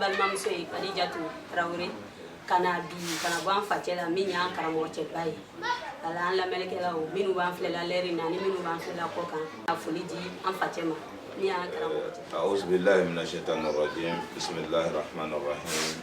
balimamuso ye kadijatu tarawele ka na bi ka na bɔ an facɛ la min y'an karamɔgɔ cɛba ye ala an lamɛnnikɛlaw minnu b'an filɛla lɛri na ni minnu b'an filɛla kɔ k'an ka foli di an facɛ ma min y'an karamɔgɔ cɛ auzubillahi mina shaitani rajim bisimillahi rahmani rahim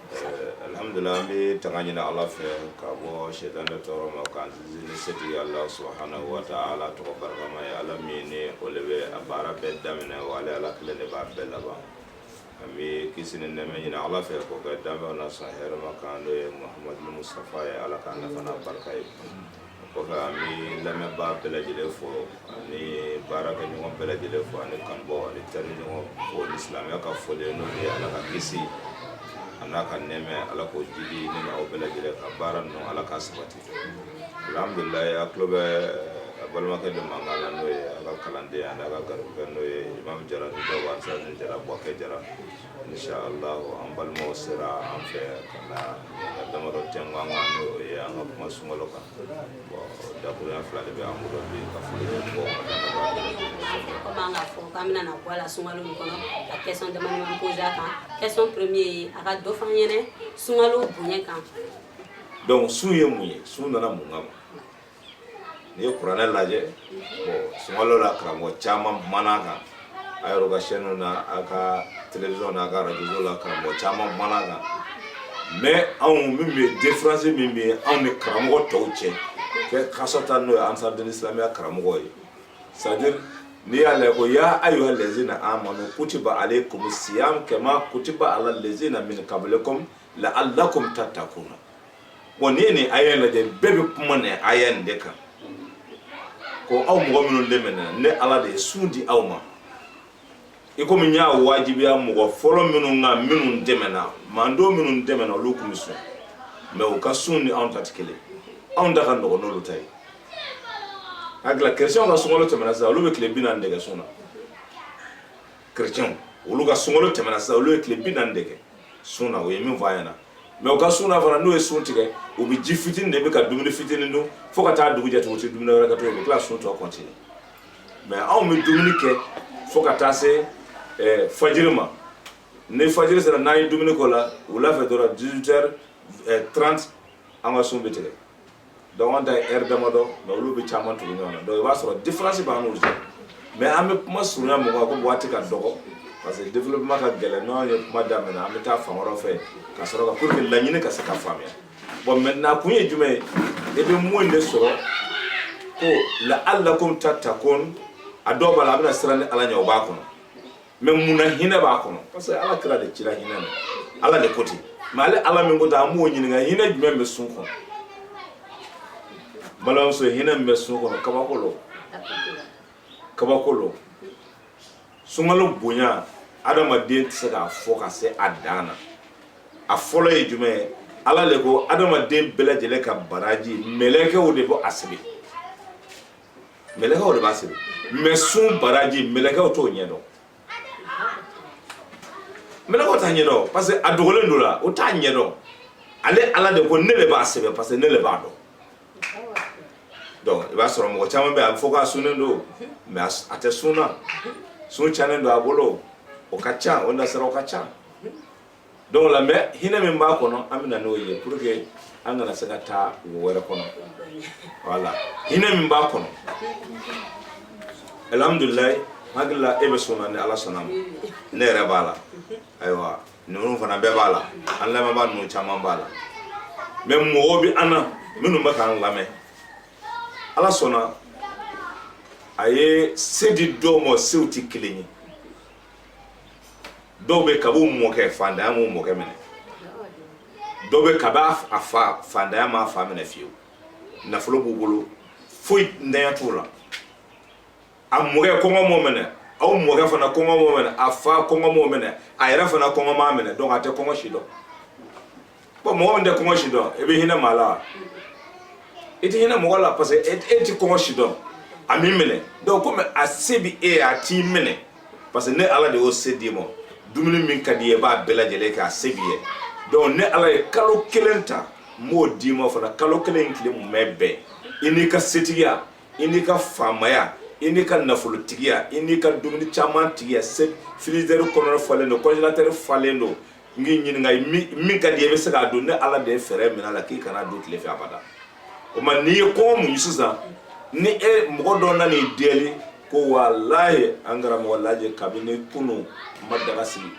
alhamdulila an bɛ tanga ɲini ala fɛ ka bɔ sɛtanɛ tɔɔrɔ ma k'an sinsin ni setigi ala subahanahu wa taala tɔgɔ barikama ye ala min ni o le bɛ baara bɛɛ daminɛ wa ale ala kelen de bɛ baara bɛɛ laban an bɛ kisi ni nɛɛma ɲini ala fɛ k'o kɛ danfɛnw na sɔn hɛrɛma kan n'o ye muhamadu mustafa ye ala k'an nafa n'a barika ye kɔfɛ an bɛ lamɛnbaa bɛɛ lajɛlen fo ani baarakɛ ɲɔgɔn bɛɛ lajɛlen fo ani kanbɔ ani teri ɲɔgɔn fo ni silamɛya ka foli n'o ye ala ka kisi a n'a ka nɛɛma ala k'o jigi ne ni aw bɛɛ lajɛlen kan baara ninnu ala k'a sabati alhamdulila a tulo bɛ a balimakɛ de mankan na n'o ye a ka kalanden ani a ka garibukɛ n'o ye imam jara ni dɔw b'a fɔ jara bouaké jara insha Allah an balimaw sera an fɛ ka na ka damadɔ tɛnku an kan n'o ye an ka kuma sunkalo kan bon dakuruɲa fila de bɛ an bolo bi ka foli kɛ mɔgɔw ma komi an k'a fɔ k'an bɛna na bɔ a la sunkalo min kɔnɔ ka question dama dama posé a kan question premier ye a ka dɔ fɔ an ɲɛna sunkalo bonya kan donc sun ye mun ye sun nana mun kama n'i ye kuranɛ lajɛ sunkalo la karamɔgɔ caman kumana a kan a yɛrɛ ka sɛniw na a ka telewisɔn na a ka arajo la karamɔgɔ caman kumana a kan mɛ anw min bɛ defiransi min bɛ anw ni karamɔgɔ tɔw cɛ kɛ kasɔta n'o ye ansaridini silamɛya karamɔgɔ ye sadiri n'i y'a lajɛ ko ya ayuha lazina amanu kutiba alaykumu siyam kama kutiba ala lazina min kablikum la alakum tatakuna wa n'i ye nin aya in lajɛ bɛɛ bɛ kuma nin aya in de kan ko aw mɔgɔ minnu dɛmɛna ne ala de ye sun di aw ma i komi n y'a wajibiya mɔgɔ fɔlɔ minnu kan minnu tɛmɛna mantɔn minnu tɛmɛna olu tun bɛ sun mɛ u ka sun ni anw ta tɛ kelen anw ta ka nɔgɔn n'olu ta ye a gila kerecɛnw ka sunkalo tɛmɛna sisan olu bɛ tile bi naani de kɛ sun na chrétiens olu ka sunkalo tɛmɛna sisan olu ye tile bi naani de kɛ sun na u ye min fɔ an ɲɛna mɛ u ka sun na fana n'u ye sun tigɛ u bɛ ji fitini de min ka dumuni fitini dun fo ka taa dugu jɛ tugun u tɛ dumuni wɛrɛ kɛ tugun u bɛ tila sun tɔ kɔntine mɛ anw bɛ dumuni kɛ fo ka taa se eh, fajiri ma ni fajiri sera n'an ye dumuni k'o la wula fɛ dɔrɔn 18 heures eh, 30 an ka sun bɛ tigɛ donc an ta ye heure damadɔ mais olu bɛ caman tugu ɲɔgɔn na donc i b'a sɔrɔ différence b'an n'u cɛ mais an bɛ kuma surunya mun kan ko waati ka dɔgɔ parce que développement ka gɛlɛn n'an ye kuma daminɛ an bɛ taa fan wɛrɛ fɛ ka sɔrɔ ka pour que laɲini ka se ka faamuya bon maintenant kun ye jumɛn ye i bɛ mun de sɔrɔ ko laalakum tatakun a dɔw b'a la a bɛna siran ni ala ɲɛ o b'a kɔnɔ mɛ mun na hinɛ b'a kɔnɔ parce que ala kira de cira hinɛ na ala de ko ten mɛ ale ala min ko ten an b'o ɲininka hinɛ jumɛn bɛ sun kɔnɔ balimamuso hinɛ min bɛ sun kɔnɔ kabako lo kabako lo sunkalo bonya adamaden tɛ se k'a fɔ ka se a dan na a fɔlɔ ye jumɛn ye ala de ko adamaden bɛɛ lajɛlen ka baraji mɛlɛkɛw de bɛ a sɛbɛn mɛlɛkɛw de b'a sɛbɛn mɛ sun baraji mɛlɛkɛw t'o ɲɛ dɔn mɛlɛkɛw t'a ɲɛ dɔn parce que a dogolen don o la o t'a ɲɛ dɔn ale ala de ko ne de b'a sɛbɛn parce que ne de b'a dɔn donc i b'a sɔrɔ mɔgɔ caman bɛ a bɛ fɔ k'a sunnen don mɛ a tɛ sun na sun cɛnnen don a bolo o ka ca o nasiraw ka ca donc la mais hinɛ min b'a kɔnɔ an bɛ na n'o ye pour que an kana se ka taa wo wɛrɛ kɔnɔ voilà hinɛ min b'a kɔnɔ alhamdulilayi n hakili la e bɛ sun na ni ala sɔnna ma ne yɛrɛ b'a la ayiwa ninnu fana bɛɛ b'a la an lamɛnbaa ninnu caman b'a la mɛ mɔgɔw bɛ an na minnu bɛ k'an lamɛn ala sɔnna a ye se di dɔw ma sew tɛ kelen ye dɔw bɛ kabi u mɔkɛ faantanya m'u mɔkɛ minɛ dɔw bɛ kabi a fa faantanya m'a fa minɛ fiyewu nafolo b'u bolo foyintanya t'u la a mɔkɛ kɔngɔ m'o minɛ aw mɔkɛ fana kɔngɔ m'o minɛ a fa kɔngɔ m'o minɛ a yɛrɛ fana kɔngɔ m'a minɛ donc a tɛ kɔngɔ si dɔn ko mɔgɔ min tɛ kɔngɔ si dɔn i bɛ hinɛ maa la wa i tɛ hinɛ mɔgɔ la parce que e tɛ kɔngɔ si dɔn a m'i minɛ donc komi a se bɛ e ye a t'i minɛ parce que ne ala de y'o se d'i ma dumuni min ka di i ye i b'a bɛɛ lajɛlen kɛ a se b'i ye donc ne ala ye kalo kelen ta n b'o d'i ma fana kalo kelen tile mumɛ bɛɛ i n'i ka setigiya i n'i ka faamaya i n'i ka nafolotigiya i n'i ka dumuni caman tigiya se frizɛri kɔnɔna falen don kɔnjelatɛri falen don n k'i ɲininka min ka di i bɛ se k'a dun ne ala de ye fɛɛrɛ minɛ a la k'i kan'a dun tile fɛ abada o ma n'i ye kɔngɔ mun sisan ni e mɔgɔ dɔ nan'i deli ko walayi an karamɔgɔ lajɛ kabini kunu n ma daga sigi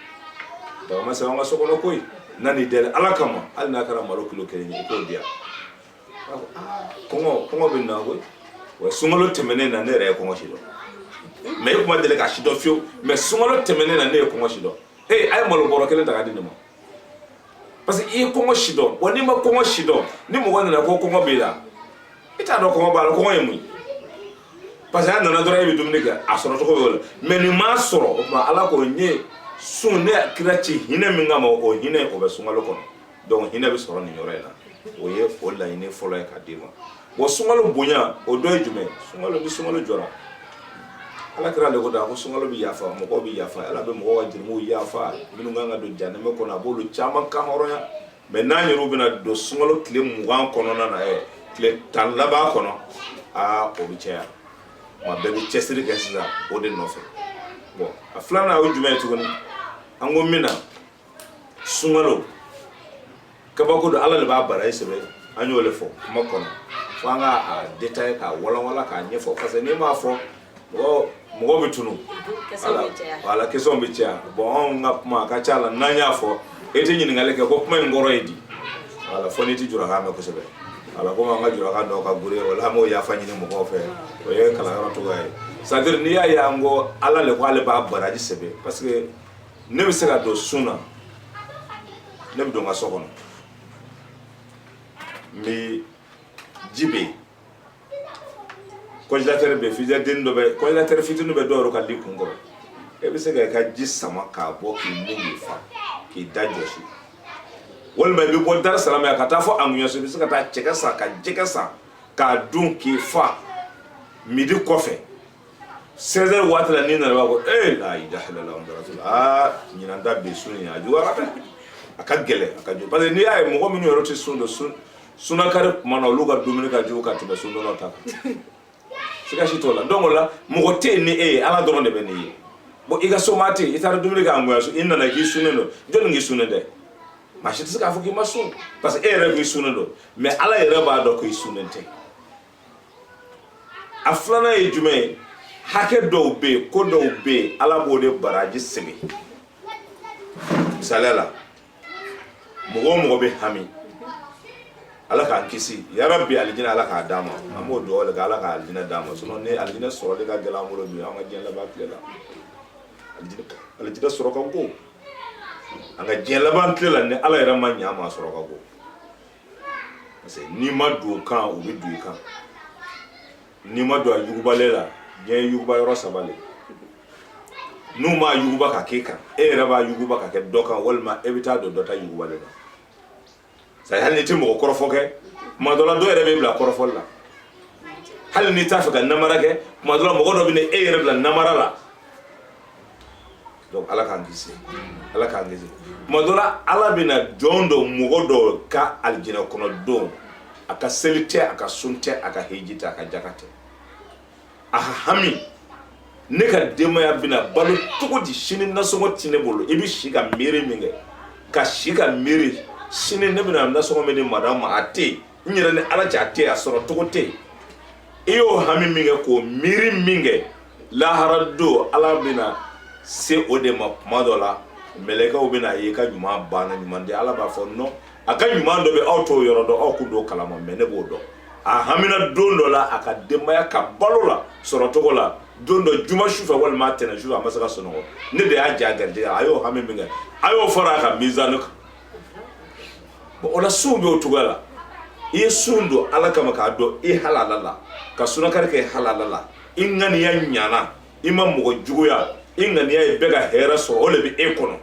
daga ma sigi an ka so kɔnɔ koyi n nan'i deli ala kama hali n'a kɛra malo kilo kelen ye i k'o di yan kɔngɔ kɔngɔ bɛ n na koyi wa sunkalo tɛmɛnen na ne yɛrɛ ye kɔngɔ si dɔn mɛ ne tun ma deli k'a si dɔn fiyewu mɛ sunkalo tɛmɛnen na ne ye kɔngɔ si dɔn ee a ye malo bɔrɔ kelen ta ka di ne ma parce que i ye kɔngɔ sidɔn wa n'i ma kɔngɔ sidɔn ni mɔgɔ nana ko kɔngɔ b'i la i t'a dɔn kɔngɔ b'a la kɔngɔ ye mun ye parce que a nana dɔrɔn e bɛ dumuni kɛ a sɔrɔ cogo y'o la mɛ nin m'a sɔrɔ o tuma ala ko n ye sun ne kira ci hinɛ min kama o hinɛ o bɛ sunkalo kɔnɔ donc hinɛ bɛ sɔrɔ nin yɔrɔ in na o ye o laɲini fɔlɔ ye ka d'i ma bon sunkalo bonya o dɔ ye jumɛn sunkalo ni sunkalo jɔra ala kira le ko da ko sunkalo bɛ yafa mɔgɔw bɛ yafa ala bɛ mɔgɔw ka jurumuw yafa minnu kan ka don jahanama kɔnɔ a b'olu caman kan hɔrɔnya mɛ n'an yɛrɛw bɛna don sunkalo tile mugan kɔnɔna na ɛ tile tan laban kɔnɔ aa o bɛ caya wa bɛɛ bɛ cɛsiri kɛ sisan o de nɔfɛ bon a filanan o ye jumɛn ye tuguni an ko min na sunkalo kabako don ala de b'a baraji sɛbɛn an y'o de fɔ kuma kɔnɔ fo an ka a detaye k'a walanwalan k'a ɲɛfɔ parce que n'i m'a fɔ mɔgɔ mɔgɔ bɛ tunu wala question bɛ caya bɔn anw ka kuma a ka ca la n'an y'a fɔ e tɛ ɲininkali kɛ ko kuma in kɔrɔ ye di wala fɔ n'i tɛ julakan mɛn kosɛbɛ wala komi an ka julakan dɔw ka gure wala an b'o yafa ɲini mɔgɔw fɛ o ye kalanyɔrɔ cogoya ye c'est à dire n'i y'a ye an ko ala le ko ale b'a baraji sɛbɛn parce que ne bɛ se ka don sun na ne bɛ don n ka so kɔnɔ minji bɛ yen congélateur bɛ yen frigidaire dɔ bɛ congélateur fitinin bɛ dɔw yɛrɛ ka li kun kɔrɔ e bɛ se ka i ka ji sama k'a bɔ k'i min k'i fa k'i da jɔsi walima i bɛ bɔ dar es salam ka taa fɔ ahougnansou i bɛ se ka taa cɛkɛ san ka jɛgɛ san k'a dun k'i fa midi kɔfɛ seize heures waati la n'i nana b'a ko ee la ilaha illallah muhamadu rasulullah aa ɲinan ta bi sun in a juguyara dɛ a ka gɛlɛn a ka jugu parce que n'i y'a ye mɔgɔ minnu yɛrɛ tɛ sun don sun sunakari kuma na olu ka dumuni ka jugu ka tɛmɛ sundonnaw ta kan siga si t'o la donc o la mɔgɔ tɛ yen ni e ye ala dɔrɔn de bɛ n'i ye bon i ka somaa tɛ yen i taara dumuni kɛ ahougnansou i nana k'i sunnen don jɔni k'i sunnen tɛ maa si tɛ se k'a fɔ k'i ma sun parce que e yɛrɛ k'i sunnen don mais ala yɛrɛ b'a dɔn k'i sunnen tɛ a filanan ye jumɛn ye hakɛ dɔw bɛ yen ko dɔw bɛ yen ala b'o de baraji sigi misaliya la mɔgɔ o mɔgɔ bɛ hami ala k'an kisi yarabi alijinɛ ala k'a d'an ma an b'o dugawu de kɛ ala ka alijinɛ d'an ma sinon ni alijinɛ sɔrɔli ka gɛlɛn an bolo bi an ka diɲɛ laban tile la alijinɛ sɔrɔ ka go an ka diɲɛ laban tile la ni ala yɛrɛ ma ɲɛ an ma sɔrɔ ka go parce que n'i ma don o kan o bɛ don i kan n'i ma don a yugubalen la diɲɛ ye yuguba yɔrɔ saba de n'u m'a yuguba ka k'e kan e yɛrɛ b'a yuguba ka kɛ dɔ kan walima e bɛ taa don dɔ ta yugubalen na c'est à dire hali n'i tɛ mɔgɔ kɔrɔfɔ kɛ tuma dɔ la dɔ yɛrɛ b'i bila kɔrɔfɔli la hali n'i t'a fɛ ka namara kɛ tuma dɔ la mɔgɔ dɔ bɛ na e yɛrɛ bila namara la donc ala k'an kisi ala k'an kisi tuma dɔ la ala bɛna jɔn dɔ mɔgɔ dɔ ka alijinɛ kɔnɔ don a ka seli tɛ a ka sun tɛ a ka heji tɛ a ka jaka tɛ a ka hami ne ka denbaya bɛna balo cogo di sini nasɔngɔ ti ne bolo i bɛ si ka miiri min kɛ ka si ka miiri sini ne bɛna nasɔngɔ min di madamu ma a tɛ yen n yɛrɛ ni ala cɛ a tɛ yen a sɔrɔ cogo tɛ yen i y'o hami min kɛ k'o miiri min kɛ lahara don ala bɛna se o de ma tuma dɔ la mɛlɛkɛw bɛna a ye ka ɲuman banna ɲuman di ala b'a fɔ nɔ a ka ɲuman dɔ bɛ aw t'o yɔrɔ dɔn aw k'u don kalama mɛ ne b'o dɔn a hamina don dɔ la a ka denbaya ka balo la sɔrɔ cogo la don dɔ juma su fɛ walima a tɛnɛ su fɛ a ma se ka sunɔgɔ ne de y'a ja garijɛgɛ a y'o hami min kɛ a y'o fara a ka mizani kan bon o la sun bɛ o cogoya la i ye sun don ala kama k'a don i halala la ka sunakari kɛ halala la i ŋaniya ɲana i ma mɔgɔ juguya i ŋaniya ye bɛɛ ka hɛrɛ sɔrɔ o le bɛ e kɔnɔ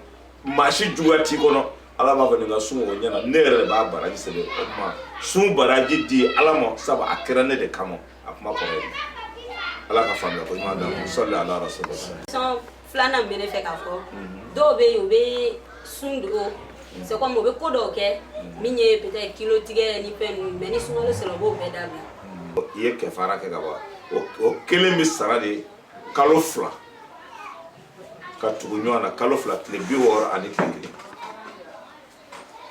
maa si juguya t'i kɔnɔ ala b'a fɔ nin ka sun o ɲɛna ne yɛrɛ de b'a baraji sɛbɛn o tuma sun baraji di ala ma sabu a kɛra ne de kama a kuma kɔrɔ ye ala ka faamuya ko ɲuman d'an ma sɔli ala rasulillah filanan bɛ ne fɛ k'a fɔ dɔw bɛ yen u bɛ sun don c'est comme u bɛ ko dɔw kɛ min ye peut-être kilo tigɛ ni fɛn ninnu mais ni sunkalo sera u b'o bɛɛ dabila i ye kɛfara kɛ ka ban o- o kelen bɛ sara de kalo fila ka tugu ɲɔgɔn na kalo fila tile bi wɔɔrɔ ani tile kelen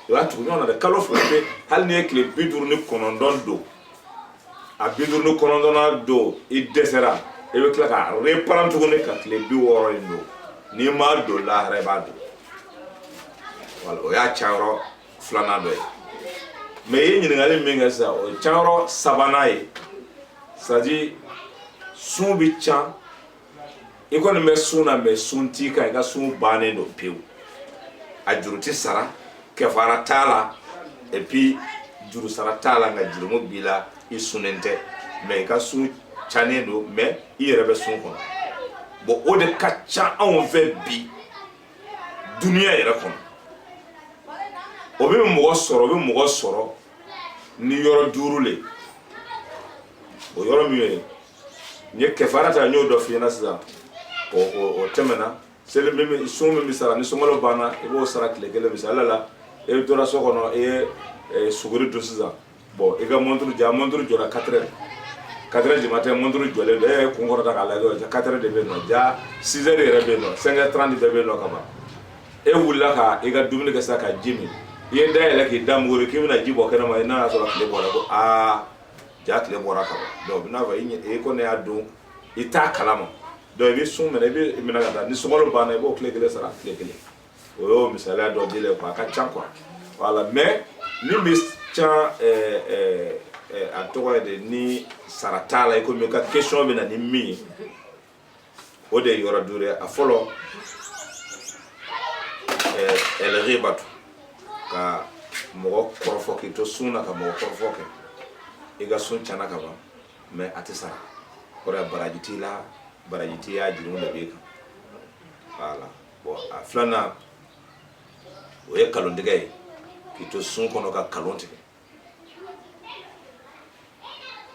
o y'a tugu ɲɔgɔn na dɛ kalo fila pe hali n'i ye tile bi duuru ni kɔnɔntɔn don a bi duuru ni kɔnɔntɔnnan don i dɛsɛra i bɛ tila ka reparan tuguni ka tile bi wɔɔrɔ in don n'i m'a don lahara i b'a don wala o y'a canyɔrɔ filanan dɔ ye mɛ i ye ɲininkali min kɛ sisan o ye canyɔrɔ sabanan ye sadi sun bɛ can i kɔni bɛ sun na mɛ sun t'i kan i ka sun bannen don pewu a juru tɛ sara kɛfara t'a la et puis juru sara t'a la nka jurumu b'i la i sunnen tɛ mɛ i ka sun cannen don mɛ i yɛrɛ bɛ sun kɔnɔ bon o de ka ca anw fɛ bi duniya yɛrɛ kɔnɔ o bɛ mɔgɔ sɔrɔ o bɛ mɔgɔ sɔrɔ ni yɔrɔ duuru le o yɔrɔ min ye n ye kɛfara ta n y'o dɔ f'i ɲɛna sisan o tɛmɛna seli min bɛ sun min bɛ sara ni sunkalo banna i b'o sara tile kelen misali la e tora so kɔnɔ i ye e, suguri dun sisan bɔn i ka mɔnturu ja mɔnturu jɔra katerɛ katerɛ jama tɛ mɔnturu jɔlen don e y'i kun kɔrɔta k'a lajɛ ja katerɛ de bɛ yen nɔ ja sizɛri yɛrɛ bɛ yen nɔ sɛnkɛ tranti bɛɛ bɛ yen nɔ ka ban e wulila ka i ka dumuni kɛ sisan ka ji min i ye da yɛlɛ k'i da muguri k'i bɛna ji bɔ kɛnɛma i n'a y'a sɔrɔ tile bɔra ko aa ja tile bɔra ka dɔw bɛn'a fɔ e e ko ne y'a dun i t'a kala ma donc i bɛ sun minɛ i bɛ minɛ ka taa ni sunkalo banna i b'o tile kelen sara tile kelen o y'o misaliya dɔ di quoi a ka ca quoi voilà mais min bɛ can a tɔgɔ ye de ni sara t'a la i komi i ka question bɛ na ni min ye o de ye yɔrɔ duuru ye a fɔlɔ ɛlgibatu ka mɔgɔ kɔrɔfɔ k'i to sun na ka mɔgɔ kɔrɔfɔ kɛ i ka sun cana ka ban mais a tɛ sara o la baraji t'i la baraji t'i y'a jurumu de b'i kan voilà bon a filanan o ye kalontigɛ ye k'i to sun kɔnɔ ka kalon tigɛ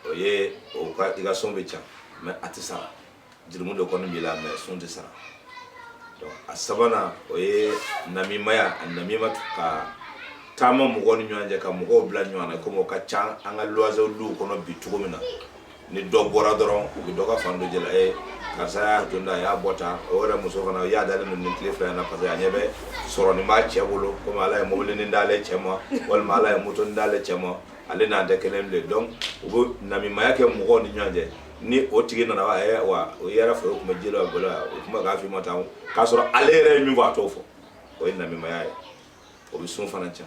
o ye o ka i ka sun bɛ can mais a tɛ sara jurumu de kɔni b'i la mais sun tɛ sara donc a sabanan o ye namimaya annamima ka taama mɔgɔw ni ɲɔgɔn cɛ ka mɔgɔw bila ɲɔgɔn na komi o ka ca an ka luwaze duw kɔnɔ bi cogo min na ni dɔ bɔra dɔrɔn u bɛ dɔ ka fan dɔ jɛla ye karisa y'a to da a y'a bɔ tan o yɛrɛ muso fana y'a dalen don nin tile fila in na parce que a ɲɛ bɛ sɔrɔ nin b'a cɛ bolo komi ala ye mobili ni d'ale cɛ ma walima ala ye moto ni d'ale cɛ ma ale n'an tɛ kelen bilen donc u bɛ namimaya kɛ mɔgɔw ni ɲɔgɔn cɛ ni o tigi nana wa ɛ wa o yɛrɛ fɛ o tun bɛ ji dɔ a bolo yan o tun bɛ k'a f'i ma tan k'a sɔrɔ ale yɛrɛ ye min fɔ a t'o fɔ o ye namimaya ye o bɛ sun fana can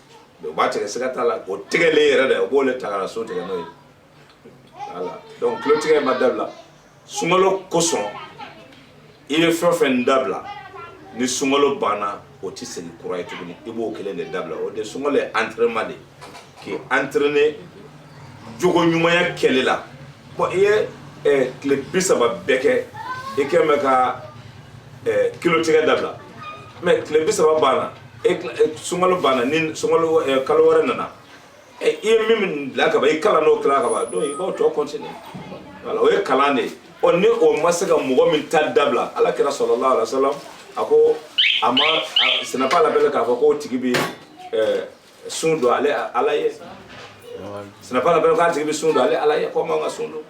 mais u b'a tigɛ siga t'a la o tigɛlen yɛrɛ de u b'o le ta ka na sun tigɛ n'o ye voilà donc kalontigɛ ma dabila sunkalo kosɔn i bɛ fɛn o fɛn dabila ni sunkalo banna o tɛ segin kura ye tuguni i b'o kelen de dabila o de sunkalo ye entraînement de k'i entraîner jogo ɲumanya kɛ le la bon i ye eh, tile bi saba bɛɛ kɛ i kɛ mɛ ka eh, kalon tigɛ dabila mais tile bi saba banna e, e sunkalo banna ni sunkalo eh, kalo wɛrɛ nana i ye min bila ka ban i kalan n'o kila ka ban donc i b'o tɔ continuer voilà o ye kalan de ye ɔ ni o ma se ka mɔgɔ min ta dabila ala kira salallahu alayhi wa sallam a ko a ma ce n'est pas la peine k'a fɔ k'o tigi bi sun don ale ala ye ce n'est pas la peine k'a tigi bɛ sun don ale ala ye k'o man ka sun don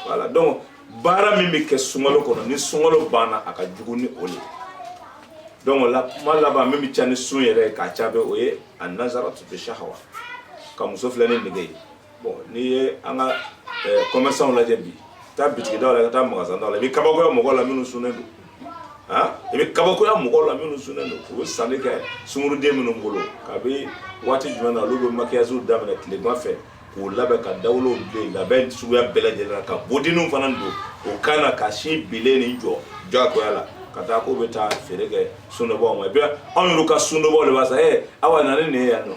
voilà donc baara min bɛ kɛ sunkalo kɔnɔ ni sunkalo banna a ka jugu ni o de donc o la kuma laban min bɛ can ni sun yɛrɛ ye k'a can bɛ o ye annazaratu shahawa ka muso filɛ ni nege ye bon n'i ye an ka eh, commerçants lajɛ bi taa bitigidaw la ka taa magasin daw la i bɛ kabakoya mɔgɔw la minnu sunnen don han i bɛ kabakoya mɔgɔw la minnu sunnen don u bɛ sanni kɛ sunguruden minnu bolo kabi waati jumɛn na olu bɛ maquillage daminɛ tilema fɛ k'u labɛn ka dawolow bilen labɛn suguya bɛɛ lajɛlen na ka bodiniw fana don o kan na ka sin binnen nin jɔ jagoya la ka taa k'u bɛ taa feere kɛ sundonbaaw ma i bɛ anw yɛrɛ ka sundonbaaw de b'a san ee awa na ni nin ye yan nɔ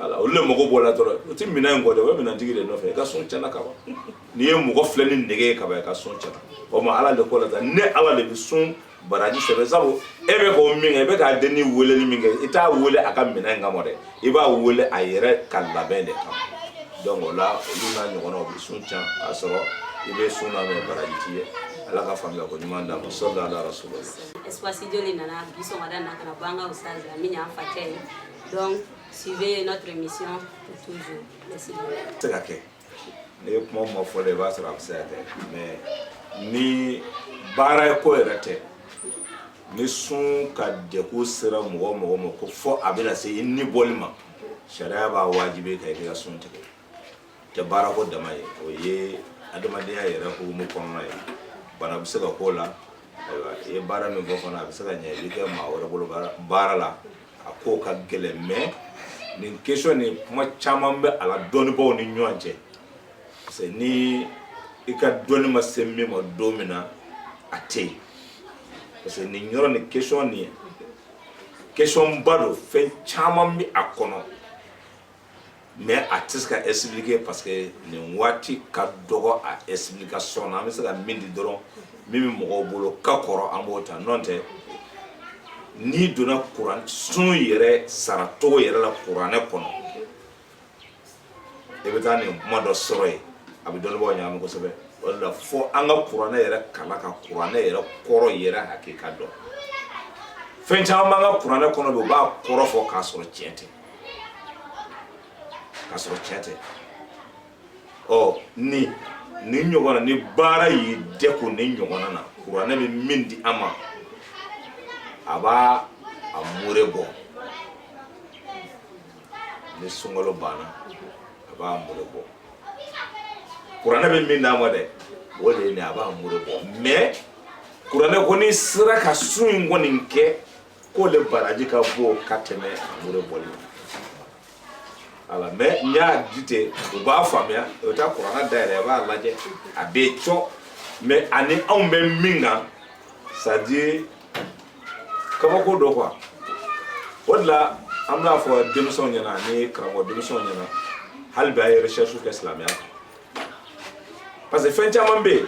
ala olu le mago b'o la dɔrɔn o tɛ minɛn in kɔ dɛ o ye minɛntigi de nɔfɛ i ka sun cɛnna ka ban n'i ye mɔgɔ filɛ ni nege ye ka ban i ka sun cɛnna o ma ala de ko la tan ne ala de bɛ sun baraji sɛbɛn sabu e bɛ ko min kɛ i bɛ ka den nin weleli min kɛ i t'a wele a ka minɛn kama dɛ i b'a wele a yɛrɛ ka labɛn de kama donc o la olu n'a ɲɔgɔnnaw bɛ sun can k'a sɔrɔ i bɛ sun na mɛ baraji t'i ye ala ka faamuya ko ɲuman d'an ma sɔli ala rasulila espace joli nana bi sɔgɔmada na ka na bɔ an ka ustazi la min y'an facɛ ye Donc, suivez notre émission pour toujours. Merci. se ka kɛ n'i ye kuma ma fɔ la i b'a sɔrɔ a bɛ se ka kɛ mɛ ni baara ko yɛrɛ tɛ ni sun ka degun sera mɔgɔ mɔgɔ ma ko fo a bɛna se i ni bɔli ma sariya b'a wajibi ka i ka sun tigɛ tɛ baarako dama ye o ye adamadenya yɛrɛ hukumu kɔnɔna ye bana bɛ se ka k'o la ayiwa i ye baara min fɔ fana a bɛ se ka ɲɛ i bɛ kɛ maa wɛrɛ bolo baara- baara la a ko ka gɛlɛn mɛ nin kesɔn nin kuma caman bɛ a la dɔnnibaaw ni ɲɔgɔn cɛ parce que ni i ka dɔnni ma se min ma don min na a tɛ yen parce que nin yɔrɔ nin kesɔn nin kesɔnba don fɛn caman bɛ a kɔnɔ mɛ a tɛ se ka expliquer parce que nin waati ka dɔgɔ a explication na an bɛ se ka min di dɔrɔn min bɛ mɔgɔw bolo ka kɔrɔ an b'o ta n'o tɛ n'i donna kuran sun yɛrɛ saracogo yɛrɛ la kuranɛ kɔnɔ i bɛ taa nin kuma dɔ sɔrɔ yen a bɛ dɔnnibagaw ɲagami kosɛbɛ o de la fo an ka kuranɛ yɛrɛ kalan ka kuranɛ yɛrɛ kɔrɔ yɛrɛ hakika dɔn fɛn caman b'an ka kuranɛ kɔnɔ bi u b'a kɔrɔ fɔ k'a sɔrɔ tiɲɛ tɛ ka sɔrɔ cɛn tɛ ɔ ni nin ɲɔgɔnna ni baara y'i degun nin ɲɔgɔnna kuranɛ bɛ min di an ma a b'a a mure bɔ ni sunkalo banna a b'a mure bɔ kuranɛ bɛ min d'an ma dɛ o de ye nin a b'a mure bɔ mɛ kuranɛ ko n'i sera ka sun in kɔni kɛ k'o le baraji ka bon ka tɛmɛ mure bɔli la mɛ n y'a di ten u b'a faamuya u bɛ taa kuranɛ dayɛlɛ a b'a lajɛ a bɛ cɔ mɛ ani anw bɛ min kan c'est-à-dire kabako don quoi o de la an bɛna fɔ denmisɛnw ɲɛna ani karamɔgɔ denmisɛnw ɲɛna hali bi a ye recherche kɛ silamɛya kan parce que fɛn caman bɛ yen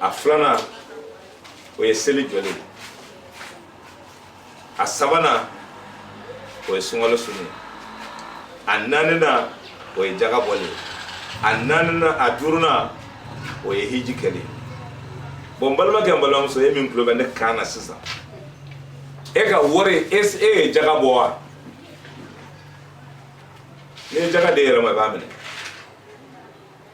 a filanan o ye seli jɔli a sabanan o ye sunkalo sunu a naaninan o ye jaga bɔli a duurunan o ye hiji kɛli bɔn n balimakɛ n balimamuso e min tulo bɛ ne kan na sisan e ka wari e ye jaga bɔ wa n'i ye jaga d'e yɛrɛ ma i b'a minɛ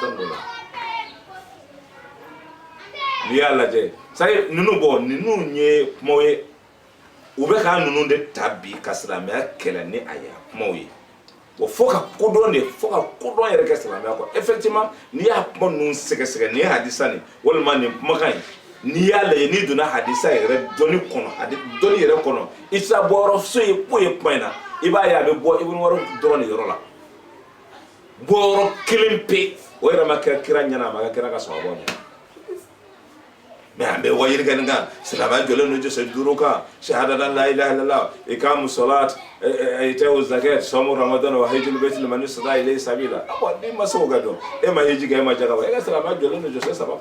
dɔn ko la n'i y'a lajɛ sari ninnu bɔ ninnu ye kumaw ye u bɛ ka ninnu de ta bi ka silamɛya kɛlɛ ni a ye kumaw ye wa fo ka kodɔn de fo ka kodɔn yɛrɛ kɛ silamɛya kɔ effectivement n'i y'a kuma ninnu sɛgɛsɛgɛ nin ye hadisa nin walima nin kumakan ye n'i y'a lajɛ n'i donna hadisa yɛrɛ dɔnni kɔnɔ hadi dɔnni yɛrɛ kɔnɔ i tɛ taa bɔyɔrɔ so ye ko ye kuma in na i b'a ye a bɛ bɔ ibunu umari dɔrɔn de yɔrɔ la bɔyɔrɔ kelen pe o yɛrɛ ma kira kira ɲɛna a ma kira ka sɔn a bɔ ɲɛna mɛ an bɛ waajuli kɛ nin kan silamɛya jɔlen don jɔsen duuru kan sahadala la ilaha illallah ikamu salat itawu zakat sɔmu ramadan wa hajjul bait liman istata ilayhi sabila a ko ni ma se o ka dɔn e ma hiji kɛ e ma jaka bɔ e ka silamɛya jɔlen don jɔsen saba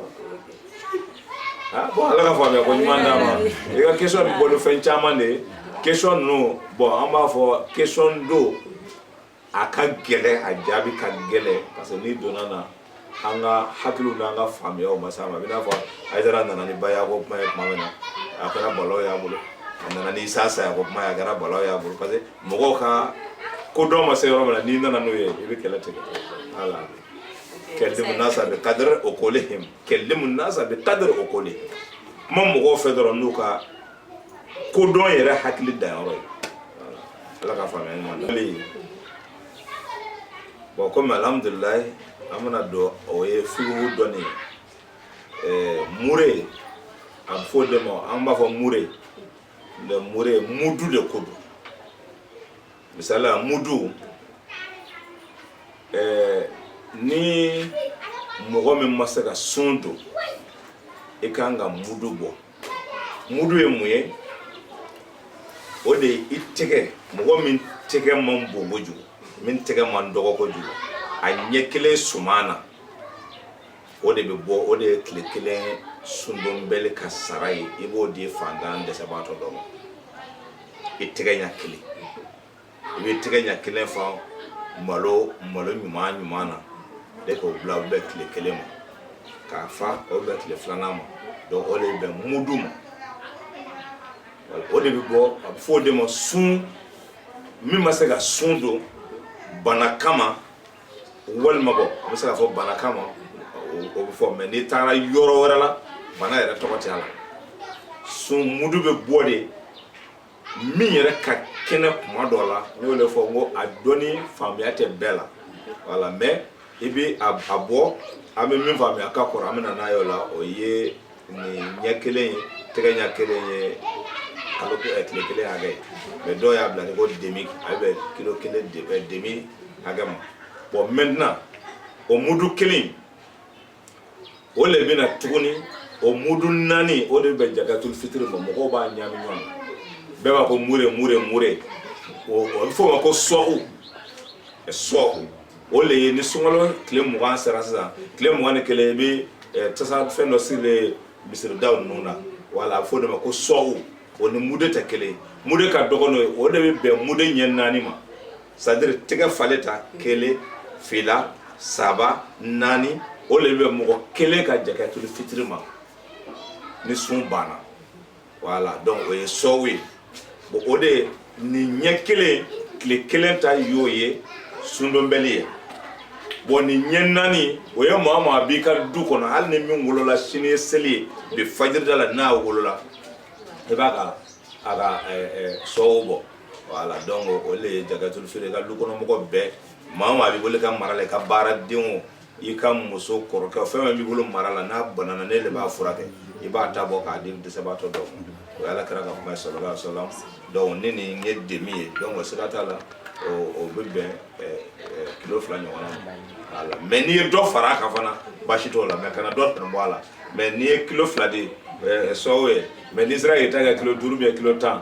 kan bɔn ala ka faamuya ko ɲuman d'an ma i ka kesɔn bɛ bɔ ni fɛn caman de ye kesɔn ninnu bɔn an b'a fɔ kesɔn don a ka gɛlɛ a jaabi ka gɛlɛ parce que n'i donna na an ka hakiliw n'an ka faamuyaw ma s'a ma i n'a fɔ ayidara nana ni baya ko kuma ye tuma min na a kɛra balawu y'a bolo a nana ni isa saya ko kuma ye a kɛra balawu y'a bolo parce que mɔgɔw ka kodɔn ma se yɔrɔ min na n'i nana n'o ye i bɛ kɛlɛ tigɛ ala kalimu nasa bi kadiri ukulihim kalimu nasa bi kadiri ukuli kuma mɔgɔw fɛ dɔrɔn n'u ka kodɔn yɛrɛ hakili danyɔrɔ ye ala ka faamuya ɲuman na bɔn komi alhamdulilayi an bɛna don o ye figu dɔnni ye eh, mure a bɛ fɔ de ma an b'a fɔ mure le mure mudu de ko don misali la mudu eh, ni mɔgɔ min ma se ka sun don i kan ka mudu bɔ mudu ye mun ye o de ye i tɛgɛ mɔgɔ min tɛgɛ man bon kojugu min tɛgɛ man dɔgɔ kojugu a ɲɛ kelen suman na o de bɛ bɔ o de ye tile kelen sundonbali ka sara ye i b'o di fantan dɛsɛbaatɔ dɔ ma i tɛgɛ ɲɛ kelen i bɛ tɛgɛ ɲɛ kelen fa malo malo ɲuman ɲuman na de k'o bila o bɛɛ tile kelen ma k'a fa o bɛɛ tile filanan ma donc o de bɛ bɛn mudu ma o de bɛ bɔ a bɛ fɔ o de ma sun min ma se ka sun don bana kama walima bɔ a bɛ se ka fɔ bana kama o bɛ fɔ mais n'i taara yɔrɔ wɛrɛ la bana yɛrɛ tɔgɔ tɛ a la sun mudu bɛ bɔ de min yɛrɛ ka kɛnɛ kuma dɔ la n y'o de fɔ n ko a dɔnni faamuya tɛ bɛɛ la voilà mais i bɛ a bɔ an bɛ min faamuya ka kɔrɔ an bɛ na n'a ye o la o ye nin ɲɛ kelen ye tɛgɛ ɲɛ kelen ye kalo tile kelen hakɛ ye mais dɔw y'a bila ni ko demi a bɛ bɛn kilo kelen demi hakɛ ma bon maintenant o mudu kelen o le bɛna tuguni o mudu naani o de bɛ jakatul fitiri ma mɔgɔw b'a ɲami ɲɔgɔn na bɛɛ b'a ko mure mure mure o bɛ f'o ma ko sɔhu sɔhu o le ye ni sunkalo tile mugan sera sisan tile mugan ni kelen i bɛ eh, tasa fɛn dɔ sirilen misiridaw ninnu na voilà a bɛ f'o de ma ko sɔhu o ni mude tɛ kelen mude ka dɔgɔn n'o ye o de bɛ bɛn mude ɲɛ naani ma c'est-à-dire tɛgɛ falen ta kelen fila saba naani o le bɛ mɔgɔ kelen ka jakatul fitiri ma ni sun banna voilà donc o ye sɔhu ye bon o de nin ɲɛ kelen tile kelen ta y'o ye sundonbali ye bon nin ɲɛ naani o ye maa maa b'i ka du kɔnɔ hali ni min wolola sini ye seli ye bi fajirida la n'a wolola i b'a ka a ka sɔhu bɔ voilà donc o le ye jakatul fitiri i ka du kɔnɔmɔgɔ bɛɛ maa maa b'i bolo ka mara la i ka baaradenw o i ka muso kɔrɔkɛ o fɛn fɛn b'i bolo mara la n'a banana ne de b'a furakɛ i b'a ta bɔ k'a di dɛsɛbaatɔ dɔw ma o y'ala kira ka kuma ye sallallahu alaihi wasallam donc ni nin ye demi ye donc o siga t'a la o o bɛ bɛn ɛ, ɛ, kilo fila ɲɔgɔnna ma voilà mais n'i ye dɔ fara a kan fana baasi t'o la mais kana dɔ tɛmɛ bɔ a la mais n'i ye kilo fila di ɛ, sɔhu ye mais n'i sera k'i ta kɛ kilo duuru ou bien kilo tan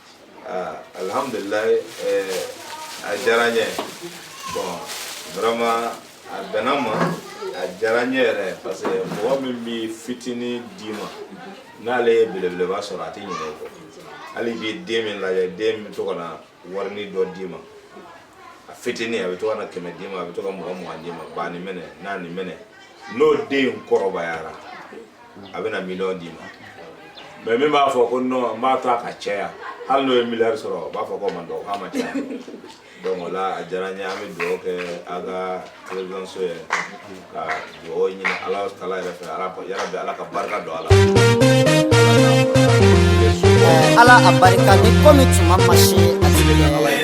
Ah, alhamdulillah eh, a diyara n ye bon vraiment a bɛnna ma a diyara n ye yɛrɛ parce que mɔgɔ min bɛ fitini d'i ma n'ale ye belebeleba sɔrɔ a tɛ ɲinɛ o kɔ hali bi den min lajɛ den bɛ to ka na warini dɔ d'i ma a fitini a bɛ to ka na kɛmɛ d'i ma a bɛ to ka mugan mugan d'i ma ba nin minɛ na nin minɛ n'o den kɔrɔbayara a bɛna miliyɔn d'i ma mais min b'a fɔ ko non n b'a to a ka caya hali n'o ye miliyari sɔrɔ o b'a fɔ ko man dɔgɔ k'a ma caya donc o la a diyara n ye an bɛ dugawu kɛ a ka televisionso ye ka dugawu ɲini ala taala yɛrɛ fɛ ala yarabi ala ka barika don a la ala a barika ni komi tuma ma se a tigi bɛ ala ye